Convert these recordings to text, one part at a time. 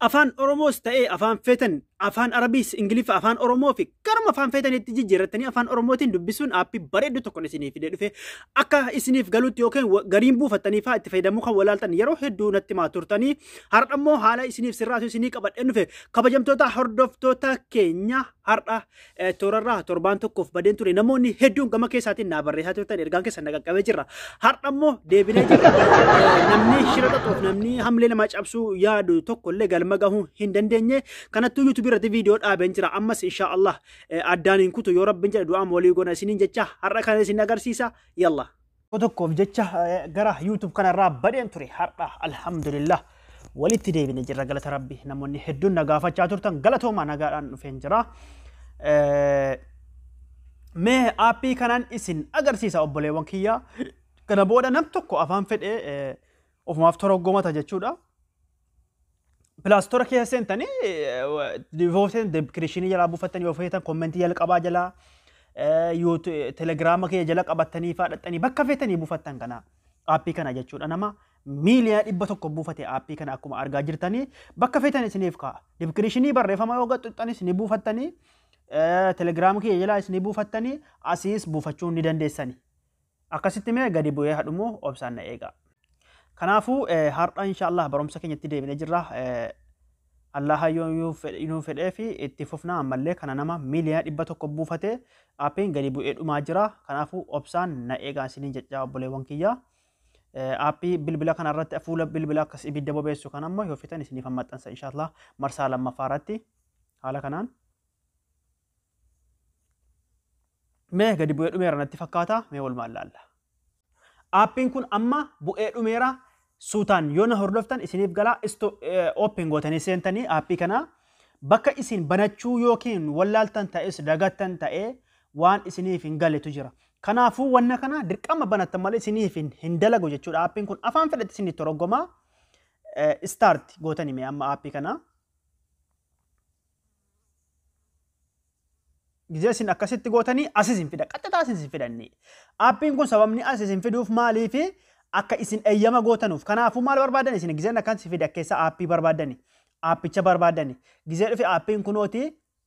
Afaan Oromoos ta'ee afaan feetan afaan Arabiis, Ingiliffa, afaan Oromoo fi garuma afaan feetanitti jijjiirrattanii afaan Oromootiin dubbisuun aappii bareedduu tokkon isiniif fidee dhufe akka isiniif galutti yookiin wa- gariin buufattanii fa'aa itti fayyadamuu kan walaaltan yeroo hedduu natti maa turtanii har'a immoo haala isiniif sirraatu isinii qabadheen dhufe kabajamtoota hordoftoota keenya har'a toorarraa torbaan tokkoof badeen ture namoonni hedduun gama keessaatiin naa barreessaa turtan ergaan keessan na qaqqabee jirra har'a immoo deebinee jirra namni shira xaxuuf namni hamlee namaa cabsuu yaadu tokko illee galma gahuu hin dandeenye kanattuu yuutuubii irratti viidiyoo dhaabeen jira ammas inshaa Allah addaan hin kutu yoo rabbiin jedhe du'aan walii goona isiniin jecha har'a kana isin agarsiisa yalla. Tokko tokkoof jecha eh, gara YouTube kanarraa badeen ture har'a alhamdulillah walitti deebine jirra galata rabbi namoonni hedduun na gaafachaa turtan galatoomaa nagaadhaan dhufeen jira. Eh, Mee aappii kanaan isin agarsiisa obboleewwan kiyyaa kana booda nam tokko afaan fedhee eh, ofumaaf toroggomata jechuudha. Pilaastora keessa seentanii divooseen deebkirishinii jalaa buufattanii yoo feetan kommentii jalqabaa jalaa telegiraama kee jala qabattanii faadhattanii bakka feetanii buufattan kana aappii kana jechuudha nama miiliyaa dhibba tokko buufate aappii kana akkuma argaa jirtanii bakka feetan isiniif ka'a deebkirishinii barreeffama yoo gaxxuxxanis ni buufattanii telegiraama kee jalaas ni buufattanii asiis buufachuu ni dandeessanii. Akkasitti mee gadi bu'ee haa dhumu obsaan na eegaa. Kanaafuu har'a insha Allah barumsa keenyatti deebinee jirra. Allaha yoo nu fedhee fi itti fufna ammallee kana nama miiliyoona dhibba tokko buufatee aappiin gadi bu'ee dhumaa jira. Kanaafuu obsaan na eegaa isiniin jechaa obboleewwan kiyyaa. Aappii bilbila kana irratti fuula bilbila akkas ibidda bobeessu kan ammoo yoo feetan isiniif maxxansa insha Allah marsaa lammaffaa irratti haala kanaan. Mee gadi bu'ee dhumeera natti fakkaata mee walumaan laalla. Aappiin kun amma bu'ee dhumeera suutaan yoo na hordoftan isiniif galaa isto ooppiin gootanii seentanii aappii kana bakka isin banachuu yookiin wallaaltan ta'es dagattan ta'ee waan isiniif hin galetu jira. Kanaafuu wanna kana dirqama banattan malee isiniif hin, hin dalagu jechuudha. Aappiin kun afaan fedhetti isiniif toroggoma. Istaarti gootanii mee amma aappii kana. Gizee isin akkasitti gootanii as isin fida. Qaxxataa isin isin fidannee. Aappiin kun sababni as isin fiduuf maaliifi akka isin eeyyama gootanuuf. Kanaafuu maal barbaadan isin gizeen akkan si fida keessa aappii barbaadani. Aappicha barbaadani. Gizee dhufe aappiin kunooti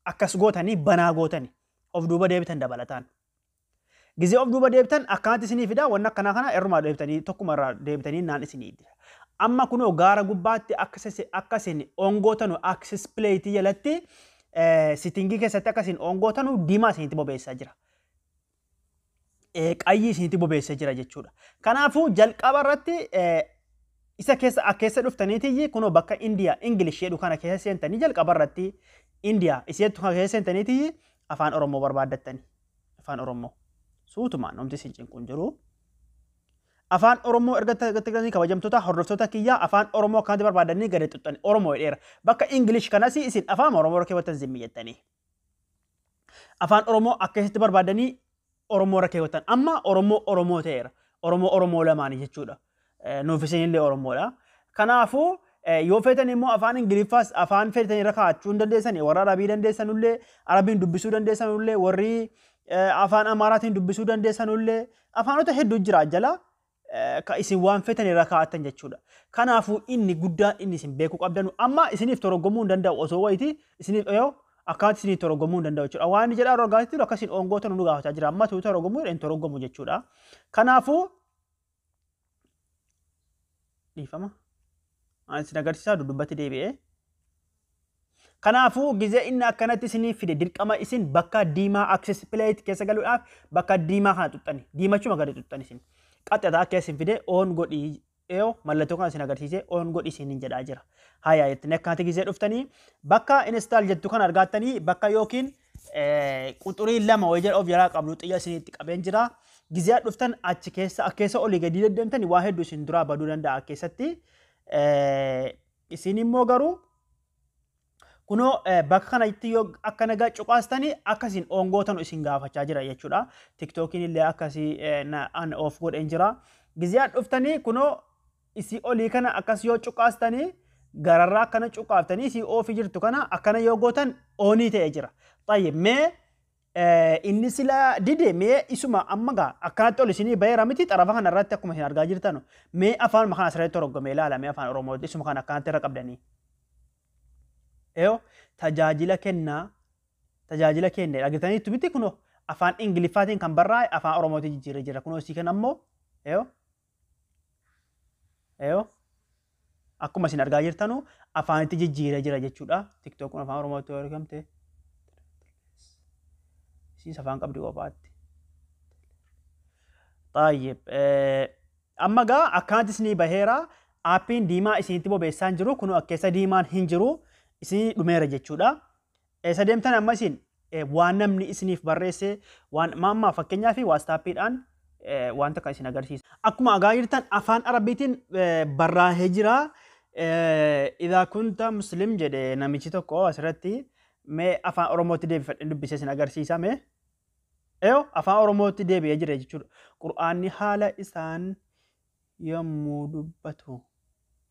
akkas gootanii banaa gootani. Of duuba deebitan dabalataan. Gizee of duuba deebitan akkanatti isinii fida wanna akkanaa kana irrumaa deebitanii tokkuma irraa deebitanii naan isinii dira. Amma kunoo gaara gubbaatti access akka isin on gootanu access plate jalatti sittingii keessatti akka isin on gootanu diimaa isinitti bobeessaa jira. Qayyii isinitti bobeessa jira jechuudha. Kanaafuu jalqaba irratti isa keessa akka keessa dhuftaniitiyyi kunoo bakka Indiyaa Ingilish jedhu kana keessa seentanii jalqaba irratti Indiyaa iseettu kana keessa seentaniitiyyi afaan Oromoo barbaaddattanii. afaan oromoo suutumaan homti isin cinquun jiru afaan oromoo erga tattaganii kabajamtoota hordoftoota kiyyaa afaan oromoo akkanatti barbaadanii gadi xuxxani oromoo dheera bakka ingilish kanas isin afaan oromoo keewwatan zimmi jettanii afaan oromoo akkasitti barbaadanii oromoo keewwatan amma oromoo oromoo ta'eera oromoo oromoo lamaanii jechuudha Nuuf isinillee Oromoodha. Kanaafuu yoo feetan immoo afaan Ingiliffaas afaan feetan irra kaa'achuu hin dandeessan warra Arabii dandeessanullee Arabiin dubbisuu dandeessanullee warri afaan Amaaraatiin dubbisuu dandeessanullee afaanota hedduu jira jala ka isin waan feetan irra kaa'attan jechuudha. Kanaafuu inni guddaan inni isin beekuu qabdanu amma isiniif toroggomuu hin danda'u osoo wayiiti isiniif dhiyoo akkaatti isiniif toroggomuu hin danda'u jechuudha. Waan inni jedhaa rogaatti akkasiin oongoo tanu nu gaafachaa jira amma tuu toroggomuu hin toroggomu jechuudha. Kanaafuu dhiifama isin agarsiisaa dudubbatti deebi'ee Kanaafuu gizee inni akkanatti isinii fide dirqama isin bakka diimaa access plate keessa galuudhaaf bakka diimaa kana xuxxani diimachuma gadi xuxxani isin qaxxataa akka isin fide oon godhi yoo mallattoo kana isin agarsiise oon godhi isin hin jedhaa jira. Haya jettanii akkanatti gizee dhuftanii bakka install jettu kana argaattanii bakka yookiin quxurii lama wayii jala of jalaa qabdu xiyya isin itti qabeen jira. Gizee dhuftan achi keessa akkeessa olii gadii deddeemtani waa hedduu isin duraa baduu danda'a keessatti. Isin immoo garuu kunoo bakka kanatti yoo akka nagaa cuqaastani akka isin ongootanu isin gaafachaa jira jechuudha. Tiktookiin illee akkasii an of godheen jira. Gizee dhuftanii kunoo isii olii kana akkas yoo cuqaastanii gararraa akkana cuqaaftanii isii oofii jirtu kana akkana yoo gootan oonii ta'e jira. Tayyib mee inni sila dide mee isuma amma gaa akkanatti ol isinii baheera miti xarafa kana irratti akkuma isin argaa jirtan mee afaan makaan asirratti toroggome ilaala mee afaan oromoo isuma kana akkanatti irra qabdanii. Eyo tajaajila kennaa tajaajila kenne dhagitaniitu miti kunoo afaan ingiliffaatiin kan barraa'e afaan oromootiin jijjiirree jira kunoo isii kana ammoo eyo Eyo akkuma isin argaa jirtanu afaanitti jijjiiree jira jechuudha. TikTok kun afaan Oromootti yoo argamte isiis afaan qabdi kophaatti. Xaayyib. Amma gaa akkaanti isinii baheera aappiin diimaa isinitti bobeessaan jiru kun akkeessa diimaan hin jiru isinii dhumeera jechuudha. Eessa deemtan amma isin? Waan namni isiniif barreesse waan amma fakkeenyaaf waastaappiidhaan waan takka isin agarsiisa. Akkuma agaa jirtan afaan arabiitiin barraa'ee jira. Idaa kunta muslim jedhe namichi tokko asirratti mee afaan oromootti deebifadhe dubbisee isin agarsiisa mee. Eyo afaan oromootti deebi'ee jira jechuudha. Qur'aanni haala isaan yommuu dubbatu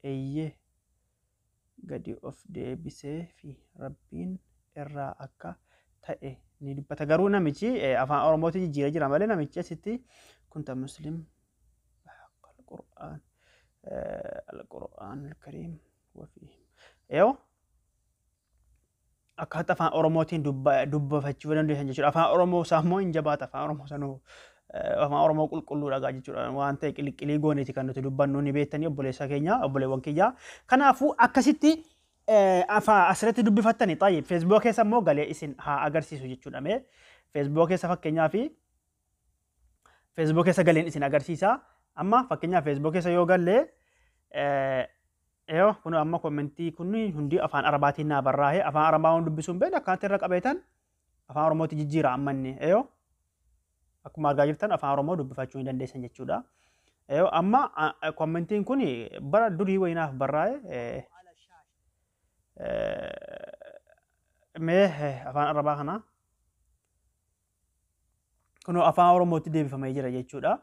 eeyyee. gadi of deebisee fi Rabbiin irraa akka ta'e ni dubbata. Garuu namichi afaan Oromootti jijjiiree jira malee namichi asitti kunta muslim Qur'aan Al-Qur'aan Al-Kariim wafii. Yoo akkaatta afaan oromootiin dubbafachuu dandeessan jechuudha. Afaan oromoo isaa immoo hin jabaata afaan oromoo sanuu afaan oromoo qulqulluu dhagaa jechuudha. Waan ta'e qiliqqilii gooneeti kan nuti dubbannu ni beektanii obboleessa keenya obboleewwan kiyyaa. Kanaafuu akkasitti afaa asirratti dubbifattani taa'e feesbuuka keessa immoo galee isin haa agarsiisu jechuudha. Mee feesbuuka keessa fakkeenyaa fi feesbuuka keessa galeen isin agarsiisa. Amma fakkeenyaa feesbuuka keessa yoo gallee Eyo kuno amma commentii kun hundii afaan arabaatiin naa barraahe afaan arabaa waan dubbisuu hin beekne akkanatti irra qabeetan afaan oromootti jijjiira amma inni eyo akkuma argaa jirtan afaan oromoo dubbifachuu ni dandeessan jechuudha. Eyo amma commentiin kun bara durii wayii naaf barraahe mee afaan arabaa kanaa Kunoo afaan Oromootti deebifamee jira jechuudha.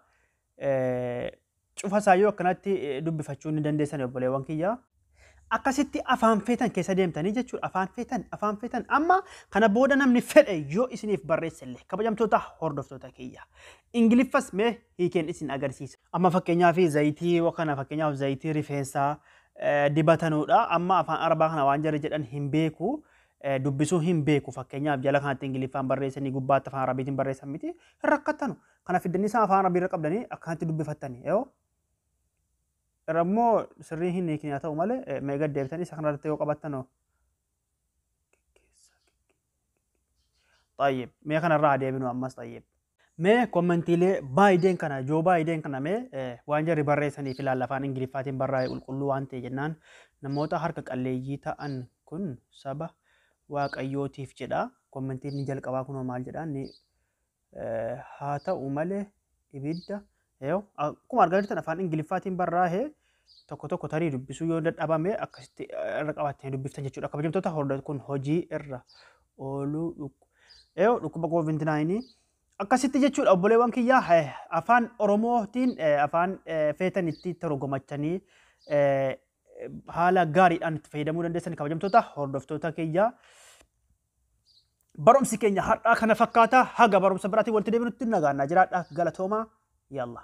Cufa isaayyuu akkanatti dubbifachuu ni dandeessan obboleewwan kiyya. Akkasitti afaan feetan keessa deemtanii jechuudha. Afaan feetan, afaan feetan. Amma kana booda namni fedhe yoo isiniif barreesse illee kabajamtoota hordoftoota kiyya. Ingiliffas mee hiikeen isin agarsiisa. Amma fakkeenyaaf zayitii kana fakkeenyaaf zayitii rifeensaa dibatanudha. Amma afaan arabaa kana waan jarri jedhan hin beeku. dubbisuu hin beeku fakkeenyaaf jala kanatti ingiliffaan barreessanii gubbaatti afaan arabiitiin barreessan miti hin rakkattanu kana fiddanii isaa afaan arabii irra qabdanii akkanatti dubbifattanii yoo irra immoo sirrii hin hiikne haa ta'u malee meeqa deebitanii isa kanarratti yoo qabattanoo طيب mee kanarraa deebinu ammas طيب Mee kommentiilee Baayiden kana, Joo Baayiden kana mee eh, waan jarri barreessaniif ilaalla afaan Ingiliffaatiin barraa'e qulqulluu waan ta'e jennaan namoota harka qalleeyyii ta'an kun saba Waaqayyootiif jedha. Kommentiin ni jalqabaa kunoo maal jedha inni eh, haa ta'u malee ibidda Eew, akkuma argaa jirtan afaan Ingiliffaatiin barraa'e tokko tokko tarii dubbisuu yoo dadhabame akkasitti eh, irra qabattanii dubbiftan jechuudha. Kabajamtoota hordoftoota kun hojii irra ooluu dhukku. Eew, dhukkuba koovinti naayinii. Akkasitti jechuudha obboleewwan kiyyaa eh, afaan Oromootiin eh, afaan eh, feetan itti torgomachanii eh, haala gaariidhaan itti fayyadamuu dandeessan kabajamtoota hordoftoota kiyyaa. Barumsi keenya har'aa kana fakkaata. Haga barumsa biraatiin walitti deebinutti nagaannaa jiraadha. Galatoomaa. Yaallah.